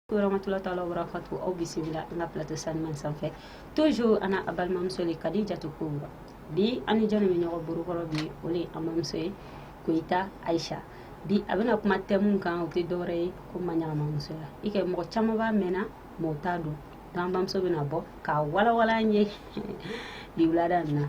rahmatulah taala wa barakatu aw bisimila an ka plateau saniman sanfɛ toujours an a balimamuso le Kadijatu Kubra bi an ni jɔn bɛ ɲɔgɔn bolokɔrɔ bi o le an bamuso ye Koyita Ayisa bi a bɛna kuma thème kan o tɛ dɔwɛrɛ ye ko maɲagamamusoya i kɛ mɔgɔ caman b'a mɛnna mɔgɔ t'a dɔn donc an bamuso bɛna bɔ k'a walawala an ye bi wulada nin na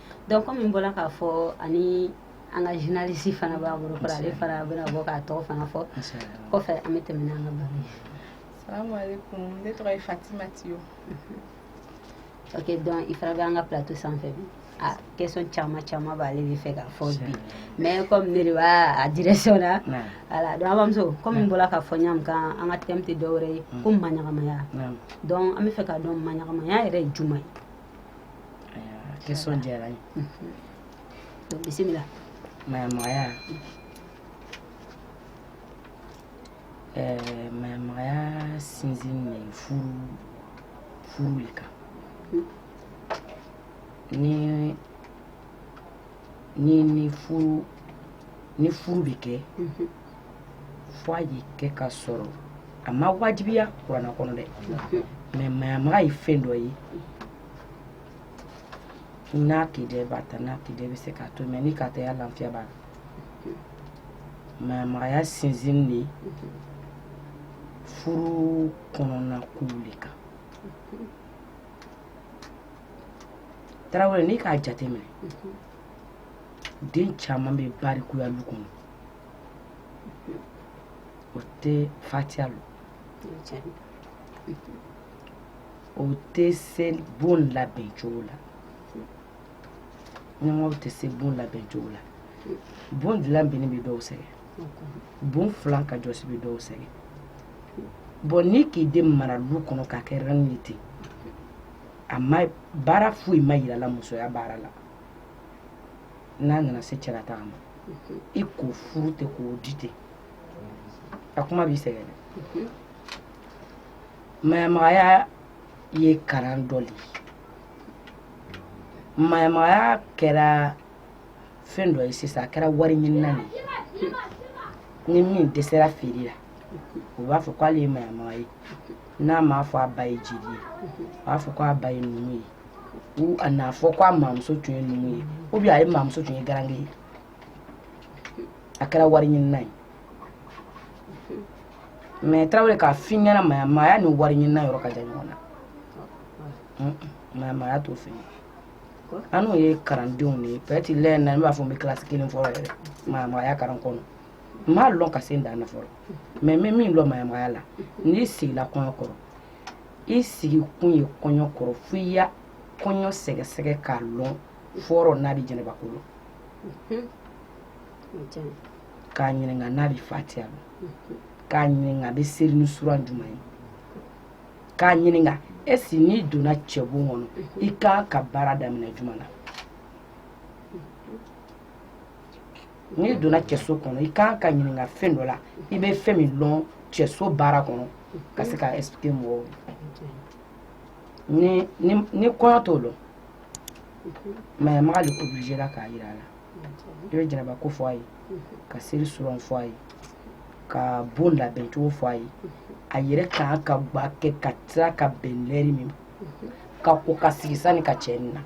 Donc kɔmi n bɔra k'a fɔ ani an ka journaliste fana b'an bolo kɔrɔ ale fana bɛna bɔ k'a tɔgɔ fana fɔ kɔfɛ an bɛ tɛmɛ n'an ka baro ye salam alaikum ne tɔgɔ fatimati ye ok donc i fana bɛ an ka plateau sanfɛ bi a question caman caman b'ale de fɛ k'a fɔ bi mais kɔmi ne de b'a direction na voilà donc an bamuso kɔmi n bɔra k'a fɔ ɲa min kan an ka thème tɛ dɔwɛrɛ ye ko maɲagamaya donc an bɛ fɛ k'a dɔn maɲagamaya yɛrɛ ye juma ye question diyara n ye donc bisimila maɲamagaya eh, maɲamagaya sinsinnen furu le kan ni ni ni furu ni furu bɛ kɛ mhm. fo a ye kɛ ka sɔrɔ a ma wajibiya kurana kɔnɔ dɛ mhm. mais maɲamaga ye fɛn dɔ ye n'a k'i diya i b'a ta n'a k'i diya i bɛ se k'a to mais n'i k'a ta i ya lafiya b'a la mhm. maɲamagaya sinsinnen furu kɔnɔna kow le kan tarawele n'i k'a jateminɛ den caman bɛ barikuya lu kɔnɔ o tɛ fatiya lɔn o tɛ se bon labɛn cogo la ɲɛmɔgɔw tɛ se bon labɛn cogo la bon dilan bɛnni bɛ dɔw sɛgɛn bon filan ka jɔsi bɛ dɔw sɛgɛn bon n'i k'i den mara lu kɔnɔ k'a kɛ reine ye ten a ma baara foyi ma yira a la musoya baara la n'a nana se cɛlataga ma i k'o furu ten k'o di ten a kuma b'i sɛgɛn dɛ maɲamagaya ye kalan dɔ le ye maɲamagaya kɛra fɛn dɔ ye sisan a kɛra wari ɲinina de ye ni min dɛsɛra feere la u b'a fɔ k'ale ye maɲamaga ye n'a m'a fɔ a ba ye jeli ye u b'a fɔ k'a ba ye numu ye ou a n'a fɔ k'a mamuso tun ye numu ye ou bien a ye mamuso tun ye garange ye a kɛra wari ɲinina ye mais tarawele k'a f'i ɲɛ na maɲamagaya ni wari ɲinina yɔrɔ ka jan ɲɔgɔn na maɲamagaya t'o fɛ annu ye kalandenw de ye peut-être lɛn na ne b'a fɔ n bɛ kilasi kelen fɔlɔ yɛrɛ maɲamagaya kalan kɔnɔ n m'a lɔn ka se n dan na fɔlɔ mais n bɛ min lɔn maɲamagaya la n'i sigila kɔɲɔ kɔrɔ i sigi kun ye kɔɲɔ kɔrɔ fo i ya kɔɲɔ sɛgɛsɛgɛ k'a lɔn fɔlɔ n'a bɛ janabako lɔn k'a ɲininka n'a bɛ fatiya lɔn k'a ɲininka a bɛ seli ni suran jumɛn ye k'a ɲininka est-ce que n'i donna cɛbon kɔnɔ i kan ka baara daminɛ jumɛn na n'i donna cɛso kɔnɔ i kan ka ɲininka fɛn dɔ la i bɛ fɛn min lɔn cɛso baara kɔnɔ ka se k'a expliquer mɔgɔw ye ni kɔɲɔ t'o lɔn maɲamaga le obligéla k'a yira a la i bɛ janabako fɔ a ye ka seri suran fɔ a ye ka bon labɛn cogo fɔ a ye a yɛrɛ kan ka gba kɛ ka tila ka bɛn lɛri min ka ko ka sigi sani ka cɛ nin na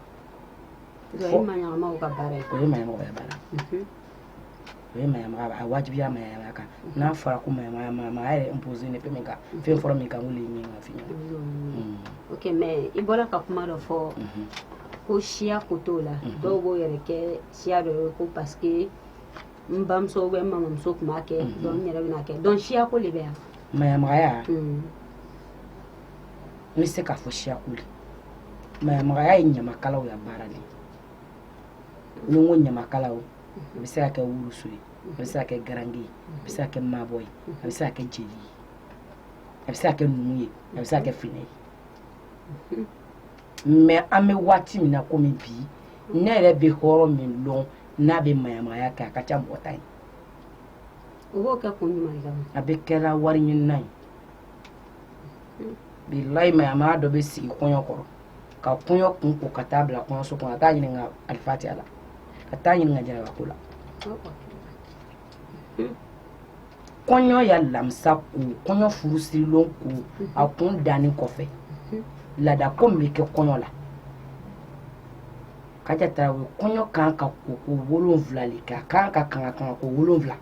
o ye maɲamaga ka baara ye o ye maɲamaga ka baara mhm. o ye maɲamaga a wajibiya maɲamaga kan mhm. n'a fɔra ko maɲamaga maɲamagaya yɛrɛ imposélen fɛn min kan mhm. fɛn fɔlɔ min kan k'olu ye min ka f'i ɲɛna mm. ok mais i bɔra ka kuma dɔ fɔ ko siya ko t'o la dɔw b'o yɛrɛ kɛ siya dɔ ye ko parce que n bamuso ou bien n mamuso tun b'a kɛ donc n yɛrɛ bɛn'a kɛ donc siya ko de bɛ yan maɲamagaya n bɛ se k'a fɔ siya ko le maɲamagaya ye ɲamakalaw ya baara de ni n ko ɲamakala a bɛ se ka kɛ woloso ye a bɛ se ka kɛ garange ye a bɛ se ka kɛ maabɔ ye a bɛ se ka kɛ jeli ye a bɛ se ka kɛ numu ye a bɛ se ka kɛ finɛ ye mais an bɛ waati min na komi bi ne yɛrɛ bɛ hɔrɔn min dɔn n'a bɛ maɲamagaya kɛ a ka ca mɔgɔ tan ye a bɛɛ kɛra wari ɲinina ye bilayi maɲamaga dɔ bɛ sigi kɔɲɔ kɔrɔ ka kɔɲɔ kun ko ka taa bila kɔɲɔso kɔnɔ a t'a ɲininka alifatiya la a t'a ɲininka janabako la kɔɲɔ ya lamisa ko kɔɲɔ furusiri lon ko a kun danni kɔfɛ laada ko min bɛ kɛ kɔɲɔ la kaja tarawele kɔɲɔ kan ka koko wolonwula le kɛ a kan ka kanga kanga ko wolonwula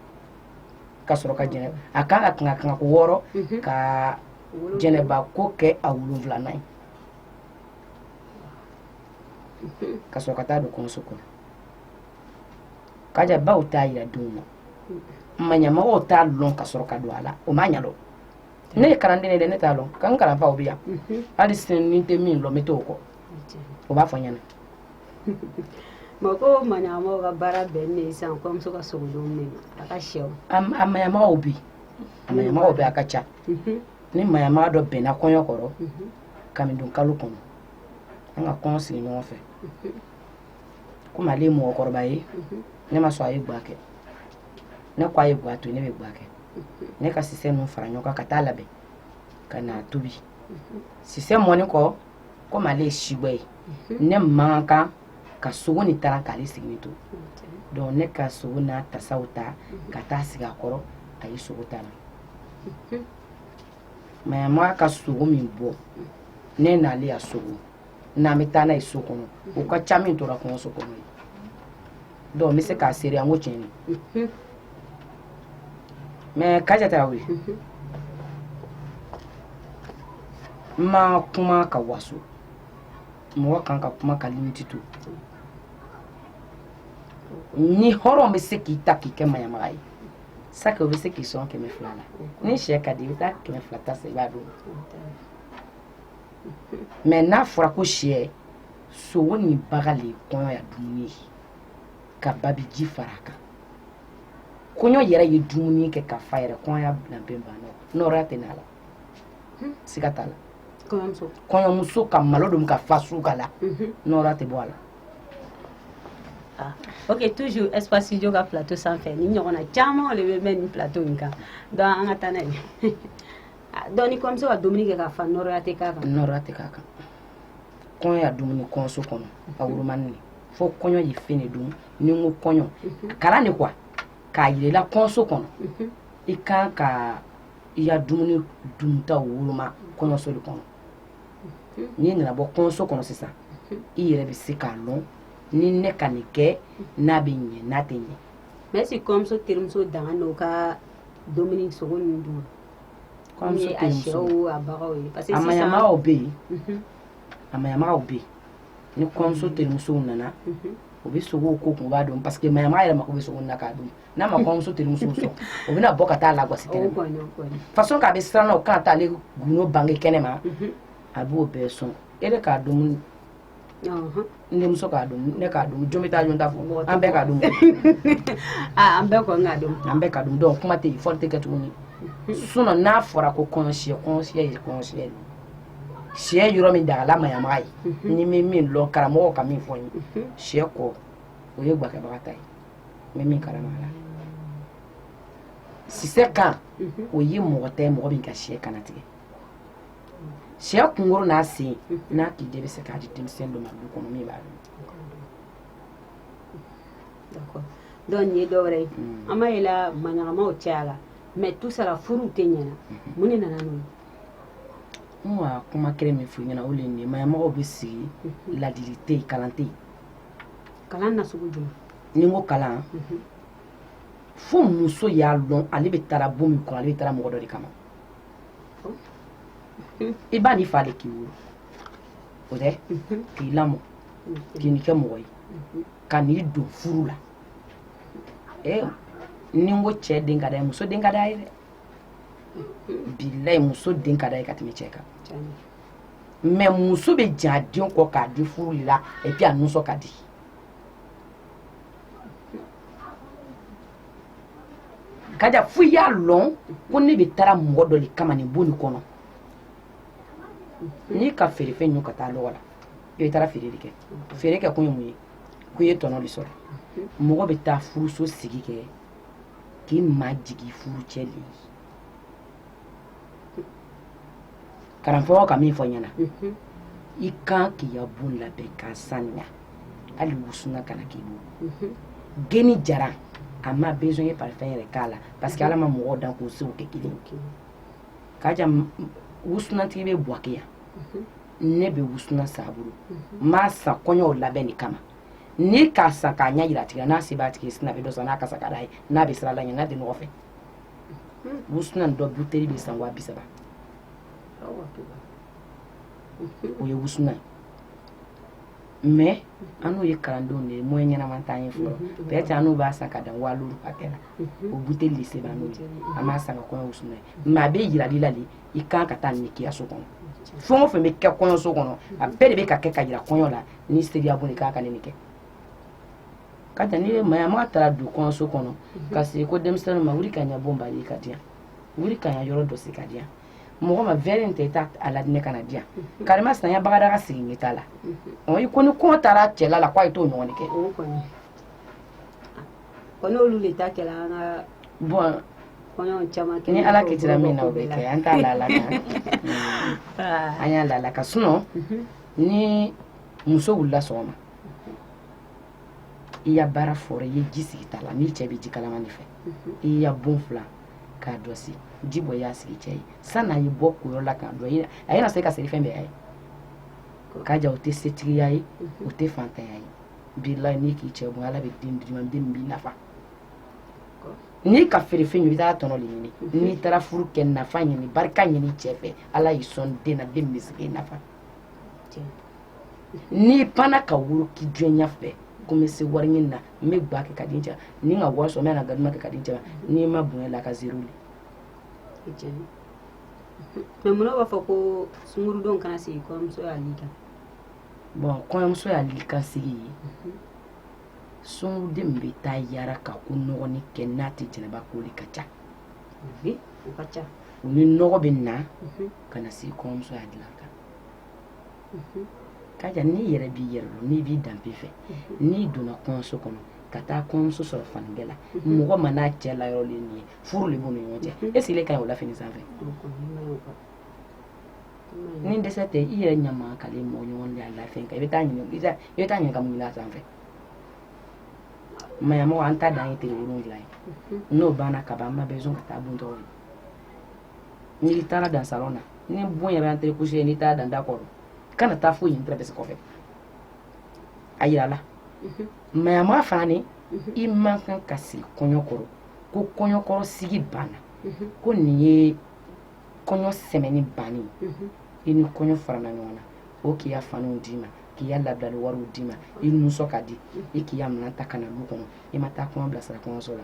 ka sɔrɔ ka jɛnɛ a kan ka kanga kanga ko wɔɔrɔ mhm. ka janabako kɛ a wolonwulanan ye mhm. ka sɔrɔ ka taa don kɔɲɔso kɔnɔ kaja baw t'a yira denw na mhm. maɲamagaw t'a lɔn ka sɔrɔ ka don a la o ma ɲa donc ne ye kalanden de dɛ ne t'a lɔn nka n kalanfaw bɛ yan hali sini ni n tɛ min lɔn n bɛ t'u kɔ o b'a fɔ ɲɛna mɔgɔ mayamaga ka baara bɛn ne ye sisan kɔɲɔmuso ka sogo dun ne ma a ka sɛw a mayamagaw bɛ a mayamagaw bɛ a ka ca mhm. ni mayamaga dɔ bɛnna kɔɲɔ kɔrɔ mhm. kamidon kalo kɔnɔ an ka kɔɲɔ sigi ɲɔgɔn fɛ mhm. komi ale ye mɔgɔkɔrɔba ye ne ma sɔn a ye gwa kɛ ne ko a ye gwa to ne bɛ gwa kɛ ne ka sisɛ ninnu fara ɲɔgɔn kan ka taa labɛn ka n'a tobi sisɛ mɔnin kɔ komi ale ye sibɔ ye mhm. ne man kan ka sogo nin tara k'ale siginin to donc ne ka sogo n'a tasaw ta mhm. ka taa sigi a kɔrɔ a ye sogo tala mhm. mayamaga ka sogo min bɔ ne n'ale ya sogo n'an bɛ taa n'a ye so kɔnɔ o ka ca min tora kɔɲɔso kɔnɔ ye donc n bɛ se k'a seereya ko tiɲɛ de mhm. mais Kaja Tarawele mhm. n ma kuma ka waso mɔgɔ kan ka kuma ka limite to ni hɔrɔn bɛ se k'i ta k'i kɛ mayamaga ye c'est que o bɛ se k'i sɔn kɛmɛ fila la n'i sɛ ka di i bɛ taa kɛmɛ fila ta sa i b'a dɔn mais n'a fɔra ko siyɛ sogo ni baga le kɔɲɔ ya dumuni ye ka babi ji fara a kan kɔɲɔ yɛrɛ ye dumuni kɛ ka fa yɛrɛ kɔɲɔ ya labɛn banna nɔɔrɔya tɛ n'a la hmm. siga t'a la kɔɲɔmuso ka malo dun ka fa su ka la mhm. nɔɔrɔya tɛ bɔ a la Ah. ok toujours espace studio ka plateau sanfɛ nin ɲɔgɔnna caman de bɛ mɛn nin plateau in kan donc an ka taa n'a ye donc kɔɲɔmuso ka dumuni kɛ ka fa n nɔɔrɔya tɛ k'a kan n nɔɔrɔya tɛ k'a kan kɔɲɔ ya dumuni kɔɲɔso kɔnɔ a wolomanin fo kɔɲɔ ye fɛn dun ni ko kɔɲɔ a kalan de quoi k'a yir'i la kɔɲɔso kɔnɔ i kan ka i ya dumuni dunta woloma kɔɲɔso de kɔnɔ n'i nana bɔ kɔɲɔso kɔnɔ sisan i yɛrɛ bɛ se k'a lɔn ni ne ka nin kɛ n'a bɛ ɲɛ n'a tɛ ɲɛ mais si kɔɲɔmuso terimuso dan ka dumuni sogo ninnu dun kɔɲɔmuso terimuso a bagaw ye parce que a mayamagaw bɛ yen mhm. a mayamagaw bɛ yen ni kɔɲɔmuso mhm. terimusow nana mhm. o bɛ sogo kun kunba dun parce que mayamaga yɛrɛ mako bɛ sogo na k'a dun n'a ma kɔɲɔmuso terimusow sɔn o bɛna bɔ ka t'a lagɔsi kɛnɛ ma façon k'a bɛ siran na o kan t'ale gundo bange kɛnɛ ma a b'o bɛɛ sɔn e bɛ k'a dun n denmuso k'a dun ne k'a dun jɔn bɛ taa jɔn ta fɔ an bɛɛ k'a dun an bɛɛ kɔni k'a dun an bɛɛ k'a dun donc kuma tɛ yen fɔli tɛ kɛ tuguni sinon n'a fɔra ko kɔɲɔsiyɛ kɔɲɔsiyɛ ye kɔɲɔsiyɛ ye siyɛ yɔrɔ min dagala mayamaga ye mhm. ne bɛ min lɔn karamɔgɔ ka min fɔ n ye mhm. siyɛ kɔ o ye gbakɛbaga ta ye n bɛ min kalama a la sisɛ kan mhm. o ye mɔgɔ ta ye mɔgɔ min ka siyɛ kannatigɛ sɛ kunkolo n'a sen n'a k'i de bɛ se k'a di denmisɛn dɔ ma du kɔnɔ min b'a dun donc nin ye dɔ wɛrɛ ye mm. an b'a yela maɲamagaw caya la mais tout ça la furuw tɛ ɲɛna mm-hmm. mun de nana n'o ye n ka kuma kelen min f'u ɲɛna o le nin ye maɲamagaw bɛ sigi mm-hmm. ladili tɛ yen kalan tɛ yen kalan na sugu jumɛn ni n ko kalan mm-hmm. fo muso y'a lɔn ale bɛ taara bon min kɔnɔ ale bɛ taara mɔgɔ dɔ de kama i ba n'i fa de k'i wolo o de k'i lamɔ k'i ni kɛ mɔgɔ ye ka n'i don furu la ee ni n ko cɛ den ka d'a ye muso den ka d'a ye dɛ bilayi muso den ka d'a ye ka tɛmɛ cɛ kan mais muso bɛ jɛn a den kɔ k'a di furu de la et puis a nusɔ ka di k'a ja fo i y'a lɔn ko ne bɛ taara mɔgɔ dɔ le kama nin bon nin kɔnɔ n'i ka feerefɛn ɲun ka taa lɔgɔ la i bɛ taara feere de kɛ feere kɛ kun ye mun ye ko i ye tɔnɔ de sɔrɔ mɔgɔ bɛ taa furuso sigi kɛ k'i majigin furucɛ de ye karamɔgɔ ka min fɔ ɲɛna mhm. i kan k'i ka bon labɛn k'a sanuya hali wusuna kana k'i bolo mhm. geni jara a ma besoin ye parfum yɛrɛ k'a la parce que ala ma mɔgɔw dan k'u sew kɛ kelen k'a ja wusunatigi bɛ buwake yan mhm. ne bɛ wusuna san a bolo n b'a san kɔɲɔw labɛn de kama ne k'a san k'a ɲɛyira a tigi la n'a se b'a tigi ye sini a bɛ dɔ san n'a kasa ka d'a ye n'a bɛ siran ala ɲɛ n'a tɛ nɔgɔ fɛ wusuna dɔ buteli bɛ san wa bi saba o ye wusuna ye mais annu ye kalandenw de ye moyen ɲɛnama t'an ye fɔlɔ peut-être annu b'a san ka dan wa luuru hakɛ la o buteli de se b'annu ye an b'a san ka kɔɲɔ wusuna ye mais a bɛ yirali la de i kan ka taa nin k'i ya so kɔnɔ fɛn o fɛn bɛ kɛ kɔɲɔso kɔnɔ a bɛɛ de bɛ ka kɛ ka yira kɔɲɔ la n'i ser'i ya bon de kan ka nin kɛ k'a ja ni maɲamaga taara don kɔɲɔso kɔnɔ ka sigi ko denmisɛnnin ma wuli ka n ya bon bale ka di yan wuli ka n ya yɔrɔ jɔsi ka di yan mɔgɔ ma verre in ta i taa a la ne ka na di yan karima sanya bagada ka sigi ɲɛ t'a la i ko ni kɔn taara cɛla la k'a ye t'o ɲɔgɔn kɛ n'olu de ta kɛra an ka bon ni ala kitira min na o bɛ kɛ an t'a la la an y'a la la ka sunɔ ni muso wulila sɔgɔma i ya baara fɔlɔ i ye ji sigi ta la n'i cɛ bɛ ji kalaman de fɛ i ya bon filan k'a jɔsi ji bɔ i y'a sigi cɛ ye sani a ye bɔ koyɔrɔ la ka don a ye na se ka seri fɛn bɛɛ ye ka ja o tɛ setigiya ye o tɛ fantanya ye bilayi n'i k'i cɛ bon ala bɛ den d'i ma den min b'i nafa n'i ka feere fɛn i bɛ taa tɔnɔ de ɲini n'i taara furu kɛ nafa ɲini barika ɲini cɛ fɛ ala y'i sɔn den na den min bɛ se k'i nafa n'i panna ka woro k'i jɔnya fɛ ko n bɛ se wari ɲini na n bɛ gba kɛ ka di cɛ ma ni n ka wari sɔrɔ n bɛ na gaduman kɛ ka di cɛ ma n'i ma bonya la a kan zéro le mɛ munna b'a fɔ ko sunguruden kana sigi kɔɲɔmuso ya li kan bon kɔɲɔmuso ya li kan sigi ye mhm. sunguruden bɛ taa yara ka ko nɔgɔni kɛ n'a tɛ janaba ko de ka ca u ni nɔgɔ bɛ na mhm. kana sigi kɔɲɔmuso ya dilan kan ka jan n'i yɛrɛ b'i yɛrɛ dɔn n'i b'i danbe fɛ n'i donna kɔɲɔso kɔnɔ ka taa kɔɲɔmuso sɔrɔ fanigɛ la mɔgɔ ma n'a cɛ layɔrɔ nin ye furu de b'u ni ɲɔgɔn cɛ e sigilen ka ɲi o lafini sanfɛ ni dɛsɛ tɛ i yɛrɛ ɲama ka la i mɔgɔ ɲɔgɔn de ya lafɛn kan i bɛ taa ɲininka i bɛ taa ɲininka mun la sanfɛ maɲamaga an ta dan ye tile wolonwula ye n'o banna ka ban an ma bɛn ka taa bon tɔgɔ ye n'i taara dan salon na ni bon yɛrɛ entrée couché ye n'i taara dan da kɔrɔ kana taa foyi ɲini tɛrɛbɛsi kɔfɛ a yira a la mhm. maɲamaga fana ni mhm. i man kan ka sigi kɔɲɔ kɔrɔ ko kɔɲɔ kɔrɔ sigi banna mhm. ko nin ye kɔɲɔ sɛmɛni banni i ni kɔɲɔ farala ɲɔgɔn na o k'i ya faniw d'i ma k'i ya labilali wariw d'i ma i nisɔn ka di i k'i ya minɛn ta ka na du kɔnɔ i ma taa kɔɲɔ bilasira kɔɲɔso la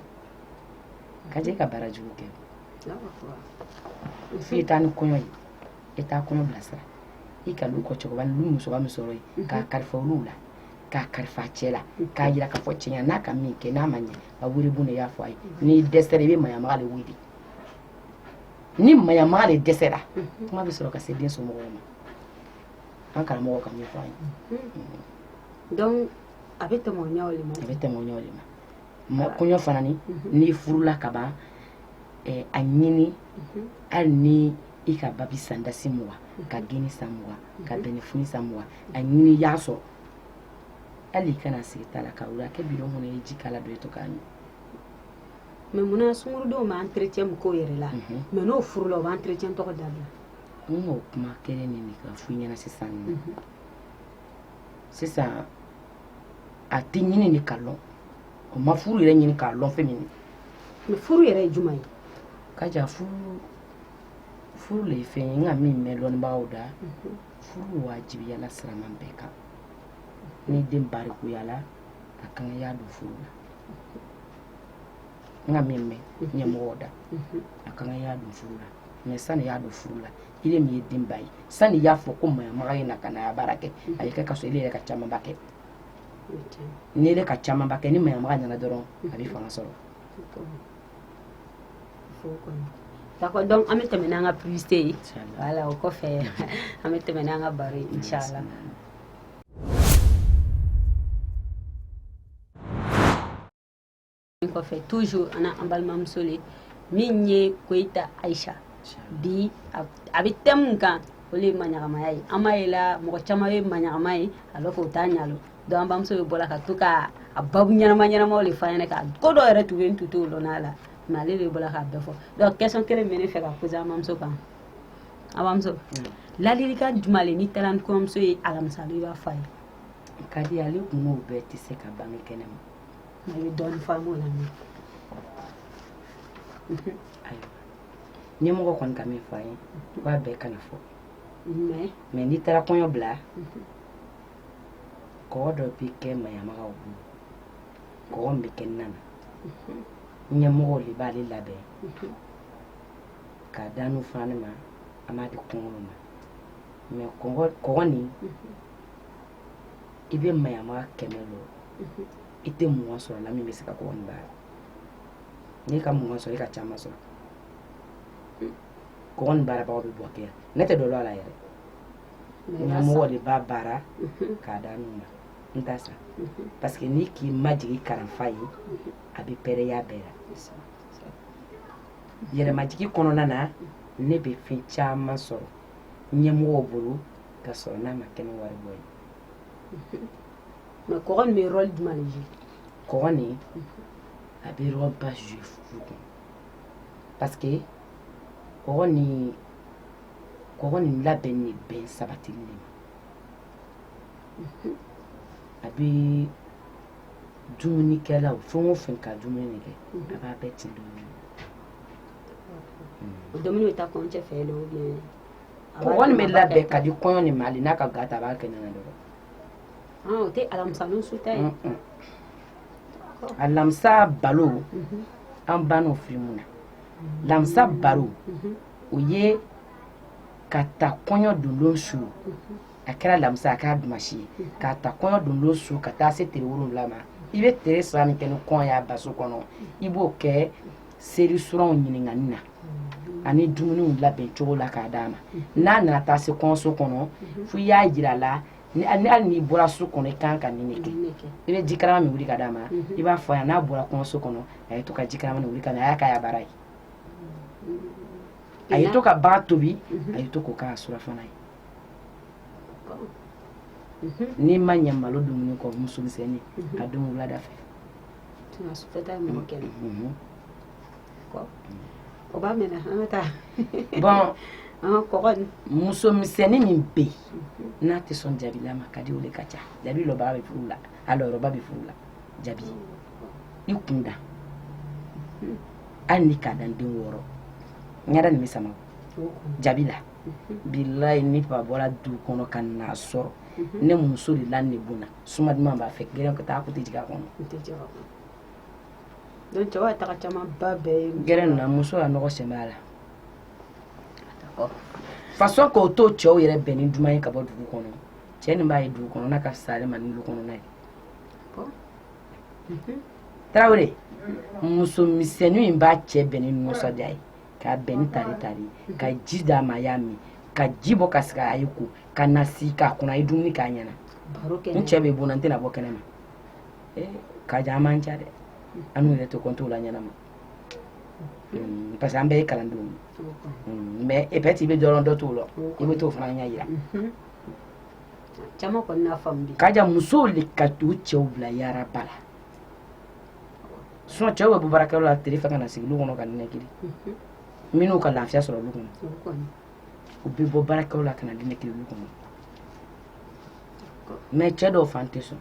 ka jɛ i ka baara jugu kɛ i taa ni kɔɲɔ ye i taa kɔɲɔ bilasira i ka lu kɔ cɛkɔrɔba ni lu musoba min sɔrɔ yen mhm. k'a kalifa olu la k'a kalifa cɛ la mhm. k'a yira k'a fɔ cɛ ɲa n'a ka min kɛ n'a ma ɲɛ a wele bon na i y'a fɔ a ye mhm. n'i dɛsɛra i bɛ maɲamaga de wele ni maɲamaga de dɛsɛra kuma bɛ sɔrɔ ka se den somɔgɔw ma an karamɔgɔ ka min fɔ an ye donc a bɛ tɛmɛ o ɲɛw de ma a bɛ tɛmɛ o ɲɛw de ma mɛ kɔɲɔ fana ni n'i furula ka ban a ɲini hali ni i ka babi san dasi mugan ka geni san mugan ka bɛnɛfin san mugan a ɲini i y'a sɔrɔ hali i kana sigi ta la ka wuli a kɛ bidon kɔnɔ i ye ji k'a la dɔ i to k'a min mɛ munna sungurudenw bɛ entretien min k'o yɛrɛ la mɛ n'o furula o bɛ entretien tɔgɔ dabila n k'o kuma kelen nin de ka fɔ i ɲɛna sisan sisan a tɛ ɲini de ka lɔn o ma furu yɛrɛ ɲini k'a lɔn fɛn min ye mais furu yɛrɛ ye jumɛn ye ka ja furu le ye fɛn ye n ka min mɛn lɔnnibagaw da mhm. furu wajibiyala siraman bɛɛ kan ni den barikuyala a kan y'a don furu la n ka min mɛn mhm. ɲɛmɔgɔw da mhm. a kan y'a don furu la mais sani y'a don furu la ile min ye denba ye sani y'a fɔ ko mayamaga ye na ka na ya baara kɛ a ye kɛ ka sɔrɔ ile yɛrɛ ka camanba kɛ n'i yɛrɛ ka camanba kɛ ni mayamaga nana dɔrɔn a bɛ fanga sɔrɔ D'accord, donc an bɛ tɛmɛ n'an ka publicité ye voilà o kɔfɛ an bɛ tɛmɛ n'an ka baro ye inchallah kɔfɛ toujours an an balimamuso le min ye Koyita Ayisa bi a bɛ thème min kan o le ye maɲagamaya ye an b'a ye la mɔgɔ caman ye maɲagama ye alors que o t'a ɲalɔn donc an bamuso bɛ bɔra ka to ka a babu ɲɛnama ɲɛnamaw le f'an ɲɛna ka ko dɔ yɛrɛ tun bɛ n tun t'o lɔn a la mais ale de bɔra k'a bɛɛ fɔ donc question kelen bɛ ne fɛ ka poser an bamuso kan an bamuso ladilikan jumɛn le n'i taara ni kɔɲɔmuso ye alamisa i b'a fɔ a ye ka di ale kun n'o bɛɛ tɛ se ka bange kɛnɛ ma mais dɔɔnin f'an b'o la ayiwa ɲɛmɔgɔ kɔni ka min fɔ an ye k'a bɛɛ kana fɔ mais n'i taara kɔɲɔ bila kɔgɔ dɔ bɛ kɛ mayamagaw bolo kɔgɔ min bɛ kɛ nan na ɲɛmɔgɔw de b'ale labɛn k'a d'anw fana ne ma an b'a di kɔɲɔ ma mais kɔgɔ nin i bɛ mayamaga kɛmɛ lɔ i tɛ mugan sɔrɔ la min bɛ se ka kɔgɔ nin baara n'i ka mugan sɔrɔ i ka caman sɔrɔ kɔgɔ nin baarabagaw bɛ bɔ kɛ ne tɛ dɔ la la yɛrɛ ɲɛmɔgɔ de b'a baara k'a d'an ma n t'a san parce que n'i k'i majigin karanfa ye a bɛ pɛrɛya bɛɛ la yɛrɛmajigi kɔnɔna na ne bɛ fɛn caman sɔrɔ ɲɛmɔgɔw bolo ka sɔrɔ n'a ma kɛ ni wari bɔ ye mais kɔgɔ nin bɛ rôle jumɛn de jouer kɔgɔ nin a bɛ rôle ba jouer furu kɔnɔ parce que kɔgɔ nin labɛn de bɛn sabatili de ma a bɛ dumunikɛlaw fɛn o fɛn ka dumuni de kɛ a b'a bɛɛ tin dumuni o dumuni bɛ taa kɔɲɔcɛ fɛ dɔw bɛ yen kɔni bɛ labɛn ka di kɔɲɔ nin ma hali n'a ka ga ta a b'a kɛ ɲɔgɔn dɔrɔn ah, o tɛ alamisa su ta ye alamisa balo mhm. an ban'o fili mun na alamisa mhm. balo mhm. o ye ka ta kɔɲɔ dondon su a kɛra alamisa a kɛra dumasi ye ka ta kɔɲɔ dondon su ka taa se tere wolonwula ma i bɛ tere saba min kɛ ni kɔɲɔ y'a baso kɔnɔ i b'o kɛ seri suranw ɲininkani na ani dumuniw labɛn cogo la k'a d'a ma n'a nana taa se kɔɲɔso kɔnɔ fo i y'a jira a la hali n'i bɔra so kɔnɔ i kan ka nin de kɛ i bɛ jikarama min wuli ka d'a ma i b'a fɔ a ye n'a bɔra kɔɲɔso kɔnɔ a ye to ka jikarama min wuli ka na a y'a k'a ya baara ye a ye to ka baga tobi a ye to k'o k'a surafana ye n'i ma ɲɛ malo dumuni kɔ muso misɛnnin a don wulada fɛ tɛna su fɛta ye mɔgɔ kɛnɛ o b'a mɛn an ka taa bon an ka kɔkɔ muso misɛnnin min bɛ yen mhm. n'a tɛ sɔn jabila ma ka di o de ka ca jabi lɔyɔrɔba bɛ furu la a lɔyɔrɔba bɛ furu la jabi i kun da mhm. hali ni k'a dan den wɔɔrɔ ɲɛda nin bɛ sama jabi la mhm. bilayi ni fa bɔra du kɔnɔ ka n'a sɔrɔ ne muso de la ne bon na Suma duman b'a fɛ gɛrɛ ka taa di ka kɔnɔ caman ba bɛɛ gɛrɛ nana muso ya nɔgɔ sɛ la façon k'o to cɛw yɛrɛ bɛn ni duman ye ka bɔ dugu kɔnɔ cɛ nin b'a ye dugu kɔnɔ n'a ka salama lu kɔnɔ n'a ye tarawele muso misɛnnin in b'a cɛ bɛn ni nisɔndiya ye k'a bɛn ni tare tare ka ji d'a ma a y'a min ka ji bɔ ka sigi a ye ko ka na si k'a kunna a ye dumuni k'a ɲɛna n cɛ bɛ bon na n tɛna bɔ kɛnɛ ma eh, Kaja an man ca dɛ annu yɛrɛ tɛ kɔnt'o la ɲɛnama hmm, parce que an bɛɛ ye kalandenw ye hmm, mais peut-être i bɛ dɔ lɔn dɔ t'o lɔn i bɛ t'o fana ɲɛ yira mhm. caman kɔni n'a faamu bi Kaja musow le ka t'u cɛw bila yaraba la cɛw bɛ bɔ baarakɛyɔrɔ la tile fɛ ka na sigi du kɔnɔ ka ninakili minnu ka lafiya sɔrɔ du kɔnɔ u bɛ bɔ baarakɛyɔrɔ la ka na ninakili du kɔnɔ mais cɛ dɔw fan tɛ sɔn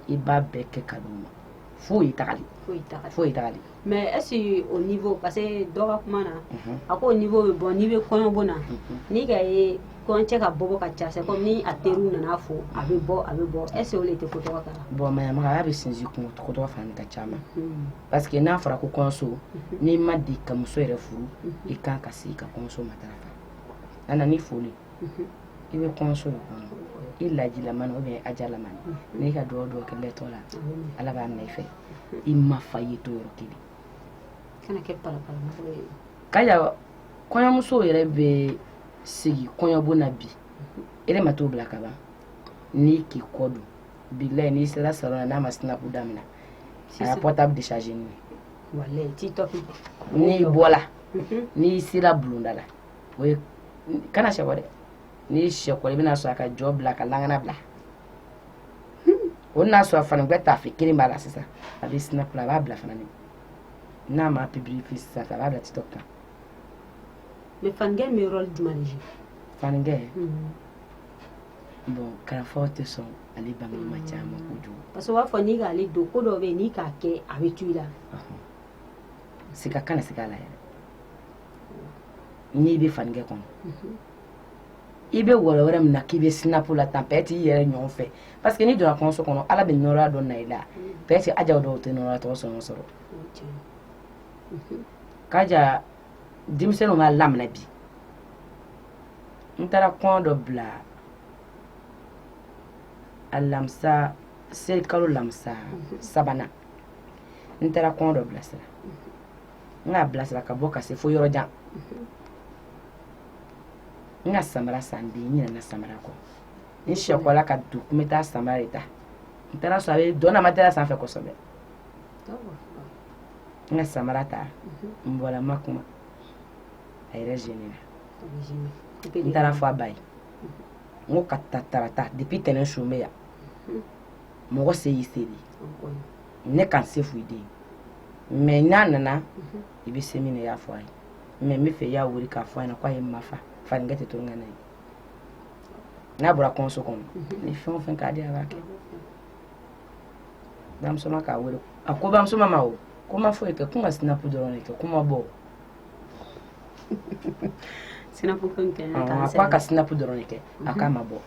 i b'a bɛɛ kɛ ka d'u ma foyi tagali foyi tagali mais est-ce que au niveau parce que dɔ ka kuma na a ko niveau bɛ bɔ n'i bɛ kɔɲɔbon na n'i ka ye Kɔɲɔcɛ ka bɔ ka ca ko ni a teri nana fɔ a bɛ bɔ a bɛ bɔ e se tɛ ko tɔgɔ kan bɔn maya bɛ sinsin ko tɔgɔ dɔ fana ka ca parce que n'a fɔra ko kɔɲɔso n'i ma di ka muso yɛrɛ furu i kan ka se i ka muso ma a nana ni foli i bɛ kɔɲɔso i lajila ou bien a jala n'i ka dugawu kɛlɛtɔ la ala b'a minɛ i fɛ i ma fa ye to yɔrɔ kelen kana kɛ kɔɲɔmuso yɛrɛ bɛ sigi kɔɲɔbon na bi e ma t'o bila ka ban n'i k'i kɔ don bilayi n'i sera salon na n'a ma sinapu daminɛ a y'a portable décharger ni n'i bɔla mhm. n'i sera bulonda la o ye kana sɛkɔ dɛ n'i sɛkɔ i bɛna sɔrɔ a ka jɔ bila ka lankana bila o n'a sɔrɔ fana bɛ tafe kelen b'a la sisan a bɛ sinapu la a b'a bila fana n'a ma publier sisan a b'a bila TikTok kan mais fankɛ bɛ rôle jumɛn jouer fankɛ mhm. bon kalafɔ tɛ sɔn ale bange ma caman kojugu parce que u b'a fɔ n'i k'ale don ko dɔ bɛ yen n'i k'a kɛ a bɛ tu i la siga kana siga a la yɛrɛ n'i bɛ fankɛ kɔnɔ mhm. i bɛ wɛrɛwɛrɛ min na k'i bɛ sinapu la tan peut-être i yɛrɛ ɲɔgɔn fɛ parce que n'i donna kɔɲɔso kɔnɔ ala bɛ nɔrɔya dɔ na i la mhm. peut-être ajaw dɔw tɛ nɔrɔya tɔgɔ sɔngɔ sɔrɔ kaja denmisɛnninw b'a lamɛnna bi n taara kɔɲɔ dɔ bila alamisa selikalo lamisa sabanan n taara kɔɲɔ dɔ bilasira n k'a bilasira ka bɔ ka se fo yɔrɔ jan n ka samara san bi n ɲinɛna samara kɔ n sɛkɔla ka don ko n bɛ taa samara de ta n taara sɔrɔ a bɛ dɔn na matelas sanfɛ kosɛbɛ n ka samara ta n bɔra n ma kuma a yɛrɛ zenina n taara fɔ a ba ye n ko ka ta tarata depuis tɛnɛn su n bɛ yan mɔgɔ se y'i seli ne kan se f'u den mais n'a nana i bɛ se min na i y'a fɔ a ye mais n b'a fɛ i y'a wele k'a fɔ a ɲɛna k'a ye n ma fa fankɛ tɛ to n ka na ye n'a bɔra kɔɲɔso kɔnɔ ni fɛn o fɛn k'a di a b'a kɛ bamuso ma k'a wele a ko bamuso ma ma o ko ma foyi kɛ ko n ka sinapu dɔrɔn de kɛ ko ma bɔ sinapu ko in kɛ a ko a ka sinapu dɔrɔn de kɛ a k'a ma bɔ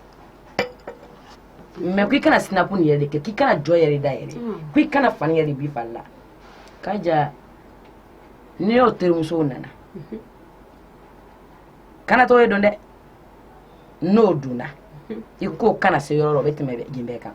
mais ko i kana sinapu nin yɛrɛ de kɛ k'i kana jɔ yɛrɛ da yɛrɛ ko i kana fani yɛrɛ b'i fari la kaja ni y'o terimusow nana kana to o ye don dɛ n'o donna i k'o kana se yɔrɔ la o bɛ tɛmɛ yen bɛɛ kan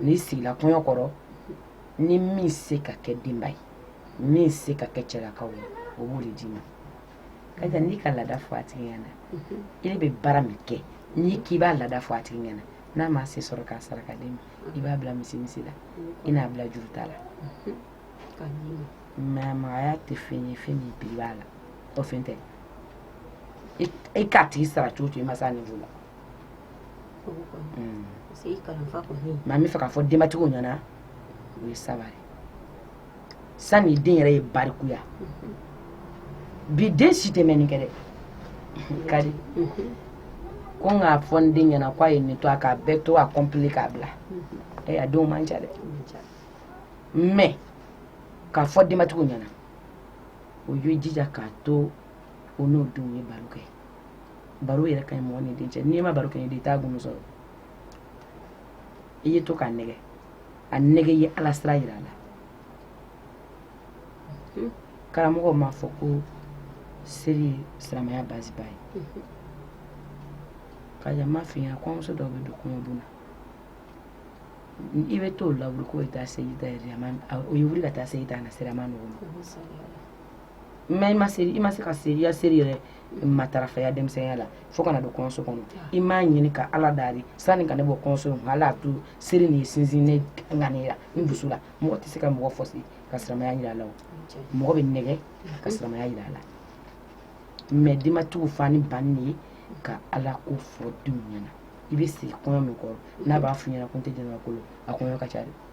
n'i sigila kɔɲɔ kɔrɔ ni min se ka kɛ denba ye min se ka kɛ cɛlakaw ye o b'o de d'i ma kaja n'i ka laada fɔ a tigi ɲɛna e bɛ baara min kɛ n'i k'i b'a laada fɔ a tigi ɲɛna n'a ma se sɔrɔ k'a sara k'a d'i ma i b'a bila misi misi la i n'a bila juru t'a la maɲamagaya tɛ fɛn ye fɛn min prix b'a la o fɛn tɛ e k'a tigi sara cogo o cogo i ma se a niveau la mais an b'a fɛ k'a fɔ denbatigiw ɲɛna o ye sabari sani den yɛrɛ ye barikuya bi den si tɛ mɛnni kɛ dɛ kari ko n k'a fɔ n den ɲɛna k'a ye nin to a k'a bɛɛ to a complet k'a bila ɛ a denw man ca dɛ mais k'a fɔ denbatigiw ɲɛna o ye jija k'a to o n'o denw ye baro kɛ baro yɛrɛ ka ɲi mɔgɔ ni den cɛ n'i ma baro kɛ ni den i t'a gundo sɔrɔ i ye to k'a nɛgɛ a nɛgɛ ye ala sira yira a la hmm. karamɔgɔ m'a fɔ ko seli ye silamɛya baziba ye hmm. kaja n b'a f'i ɲɛna kɔɲɔmuso dɔw bɛ don kɔɲɔbon na i bɛ t'o lawuli k'o ye taa seli ta yɛrɛ o ye wuli ka taa seli ta a na sira man nɔgɔ ma mais i ma se i ma se ka se i ya seri yɛrɛ matarafaya denmisɛnninya la fo ka na don kɔɲɔso kɔnɔ i b'a ɲini ka ala daari sanni ka ne bɔ kɔɲɔso kɔnɔ ala to seri nin sinsin ne ŋaniya la n dusu la mɔgɔ tɛ se ka mɔgɔ forcer ka siramaya jira a la mɔgɔ bɛ nɛgɛ ka siramaya jira a la mais denbatigiw fa ni ba nin de ye ka ala ko fɔ denw ɲɛna i bɛ sigi kɔɲɔ min kɔrɔ n'a b'a f'i ɲɛna ko n tɛ jɛnɛba kolo a kɔɲɔ ka ca dɛ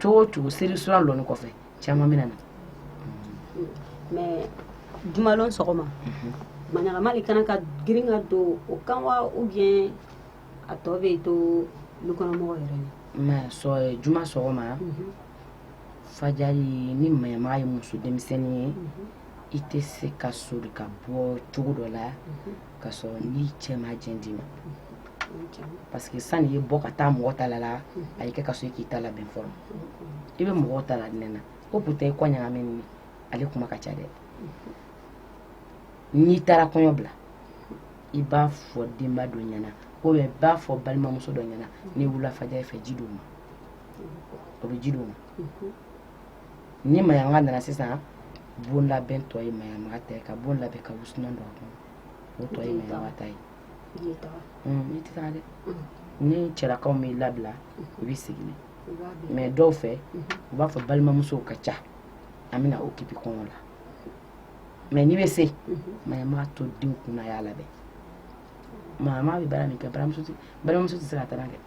cogo o cogo seli sura lon i kɔfɛ caman bɛ na na mais jumalon sɔgɔma maɲamaga de ka kan ka girin ka don o kan wa ou bien a tɔ bɛ to dukɔnɔmɔgɔ yɛrɛ ye masɔrɔ juma sɔgɔma fajali ni maɲamaga ye muso denmisɛnnin ye i tɛ se ka sori ka bɔ cogo dɔ la ka sɔrɔ n'i cɛ ma jɛn d'i ma parce que sani i ye bɔ ka taa mɔgɔ ta la la a ye kɛ ka sɔrɔ i k'i ta labɛn fɔlɔ i bɛ mɔgɔw ta laɲɛna o pourtant i kɔ ɲagaminen ale kuma ka ca dɛ n'i taara kɔɲɔ bila i b'a fɔ denba dɔ ɲɛna ko i b'a fɔ balimamuso dɔ ɲɛna n'i wulila fajali fɛ ji d'u ma o bɛ ji d'u ma ni maɲamaga nana sisan bon labɛn tɔ ye maɲamaga ta ye ka bon labɛn ka wusulan don a kɔnɔ o tɔ ye maɲamaga ta ye n'i tɛ taa dɛ ni cɛlakaw m'i labila u b'i sigi nin mais dɔw fɛ u b'a fɔ balimamusow ka ca an bɛna occuper kɔɲɔ la mais n'i bɛ se maɲamaga to denw kunna y'a labɛn maɲamaga bɛ baara min kɛ balimamuso tɛ se ka taa kɛ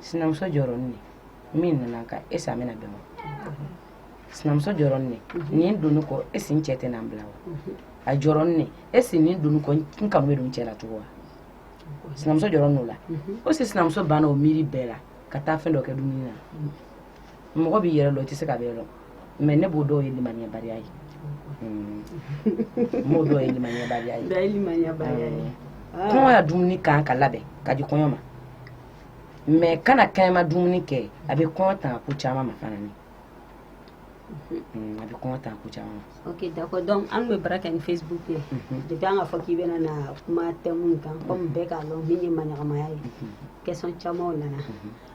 sinamuso jɔrɔnen min nana ka est-ce an bɛna bɛn wa sinamuso jɔrɔnen nin donni kɔ est-ce n cɛ tɛna n bila wa a jɔrɔnen est-ce nin donni kɔ n kanu bɛ don cɛ la tugun wa sinamuso jɔrɔnen o la o si sinamuso banna o miiri bɛɛ la ka taa fɛn dɔ kɛ dumuni na mɔgɔ b'i yɛrɛ lɔn i tɛ se ka bɛɛ lɔn mais ne b'o dɔw ye limaniyabaliya ye n b'o dɔw ye limaniyabaliya ye kɔɲɔ ya dumuni kan ka labɛn ka di kɔɲɔ ma mais kana kɛnɛma dumuni kɛ a bɛ kɔɲɔ tanga ko caman ma fana ni a bɛ kɔɲɔ tanga ko caman ma ok d'accord donc an bɛ baara kɛ ni facebook ye depuis an ka fɔ k'i bɛna na kuma thème kan comme bɛɛ k'a dɔn min ye maɲamagaya ye question camanw nana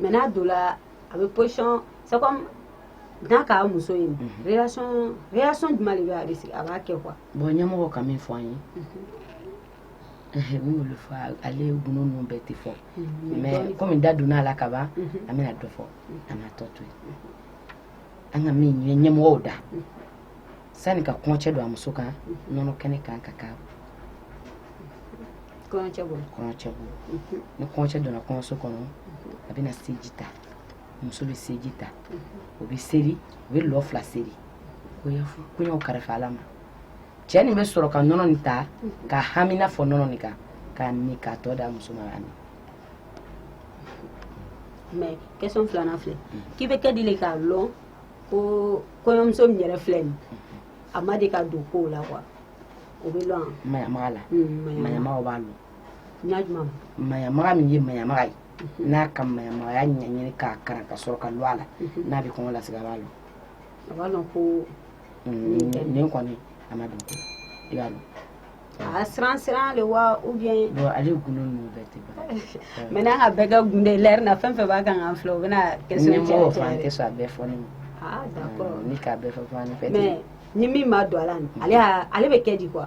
mais n'a donna a bɛ position c'est comme n'a k'a muso ye réaction jumɛn de bɛ a risque a b'a kɛ quoi bon ɲɛmɔgɔ ka min fɔ an ye min y'olu fɔ ale gundo ninnu bɛɛ tɛ fɔ mais komi da donna a la ka ban an bɛna dɔ fɔ an b'a tɔ to yen an ka min ye ɲɛmɔgɔw da sani ka kɔɲɔcɛ don a muso kan nɔnɔ kɛnɛ kan ka kɛ kɔɲɔcɛ bolo ni kɔɲɔcɛ donna kɔɲɔso kɔnɔ a bɛna seji ta muso bɛ seji ta o bɛ seri o bɛ lɔ fila seri k'o yɛrɛ karifa ala ma cɛ nin bɛ sɔrɔ ka nɔnɔ nin ta ka hamina fɔ nɔnɔ nin kan k'a min k'a tɔ da muso ma a min mais question filanan filɛ k'i bɛ kɛ di le k'a lɔn ko kɔɲɔmuso min yɛrɛ filɛ nin a ma deli ka don ko la quoi o bɛ lɔn maɲamaga la maɲamaga b'a lɔn ɲajuma maɲamaga min ye maɲamaga ye mhm. n'a ka maɲamagaya ɲɛɲini k'a karan ka sɔrɔ ka lɔ a la mhm. n'a bɛ kɔɲɔ lasigi a b'a lɔn a b'a lɔn ko nin kɔni a ma don ko i b'a lɔn a siran siran le wa ou bien ale gundo mais n'an ka bɛɛ ka gundo lɛri na fɛn fɛn b'a kan k'an filɛ u bɛna kɛ tɛ a bɛɛ fɔ ne ni k'a bɛɛ fɛ ni min ma don a la ale ale bɛ kɛ di quoi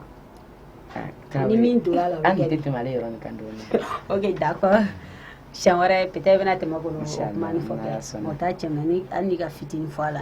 ni min donna an tɛ tɛmɛ ale yɔrɔ kan ok d'accord siɲɛ wɛrɛ peut-être bɛna tɛmɛ kɔnɔ fɔ o taa cɛmanmani hali ka fitinin fɔ a la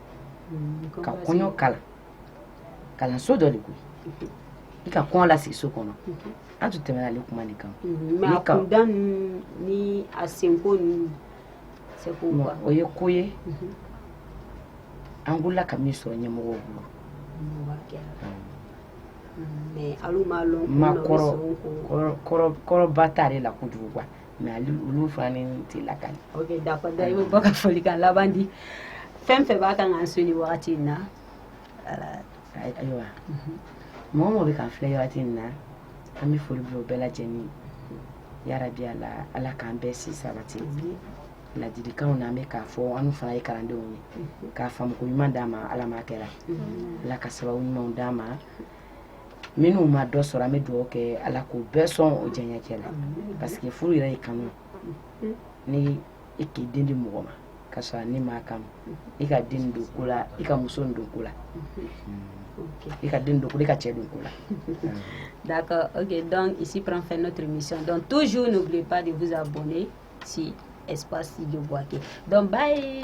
ka kɔɲɔ kalan kalanso dɔ le koyi i ka kɔɲɔ lasigi so kɔnɔ an tun tɛmɛna ale kuma nin kan mais a kunda ni a senko ninnu o ye ko ye an wulila ka min sɔrɔ ɲɛmɔgɔw bolo mɛ alu m'a lɔn makɔrɔ kɔrɔba t'ale la kojugu quoi mais ali olu fana ni tɛ lakali ok da da i bɛ bɔ ka folikan laban di fɛn fɛn b'a kan k'an so ni wagati in na ayiwa mɔgɔ mɔgɔ bɛ k'an filɛ wagati in na an bɛ foli bila o bɛɛ lajɛlen yarabi ala ala k'an bɛɛ si sabati ladilikanw na an bɛ k'a fɔ an fana ye kalandenw ye k'a faamuko ɲuman d'an ma ala m'a kɛra ala ka sababu ɲumanw d'an ma minnu ma dɔ sɔrɔ an bɛ dugawu kɛ ala k'u bɛɛ sɔn u diyaɲɛ cɛ la parce que furu yɛrɛ ye kanu ni i k'i den di mɔgɔ ma ka sɔrɔ n'i m'a kanu i ka den don ko la i ka muso don ko la i ka den don ko la i ka cɛ don ko la d'accord ok donc ici prend fin notre émission donc toujours n'oubliez pas de vous abonner sur espace studio bouaké donc bye